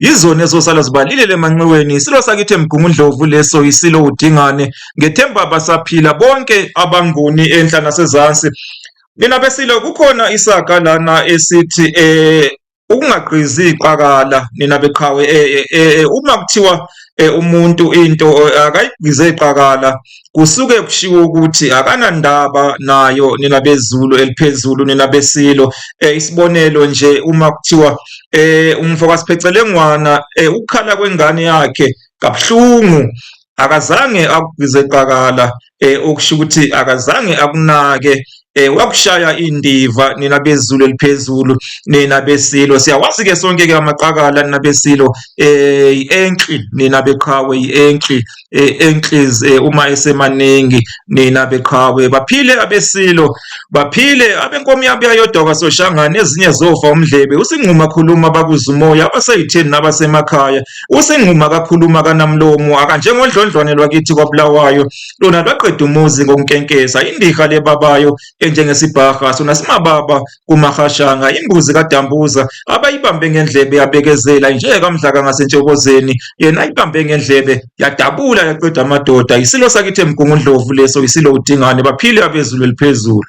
Yizona ezosala zibalilele emanxiweni. Isilo sakithi eMgungundlovu leso yisilo uDingane. Ngethemba basaphila bonke abanguni enhla nasezansi. Nina besilo kukhona isaga lana esithi eh ukungagqizi iqakala nina beqhawe eh, eh, eh, uma kuthiwa eh, umuntu into eh, akayigqize iqakala kusuke kushiwo ukuthi akanandaba nayo nina bezulu eliphezulu nina besilo eh, isibonelo nje uma kuthiwa eh umfo kaSiphecelengwana eh, ukukhala kwengane yakhe kabuhlungu akazange akugqize qakala eh okusho ukuthi akazange akunake eh wakushaya indiva nina bezulu eliphezulu nina besilo siyawazi ke sonke ke amaqakala nina besilo eh enki nina beqhawe enki eh, enkliz eh, uma esemaningi nina beqhawe baphile abesilo baphile abenkomi yabo yayodoka soshangane ezinye zofa umdlebe usingquma khuluma bakuzumoya abaseyitheni nabasemakhaya usingquma kakhuluma kanamlomo akanjengodlondlwane lwakithi kwabulawayo lona lwaqeda umuzi ngokunkenkesa indiha lebabayo enjengesibhaha sona simababa kumahashanga imbuzi kadambuza abayibambe ngendlebe yabekezela injeke kamdlaka ngasentshobozeni yena ayibambe ngendlebe yadabula yaqeda amadoda isilo sakithi emgungundlovu leso isilo udingane baphile abezulu eliphezulu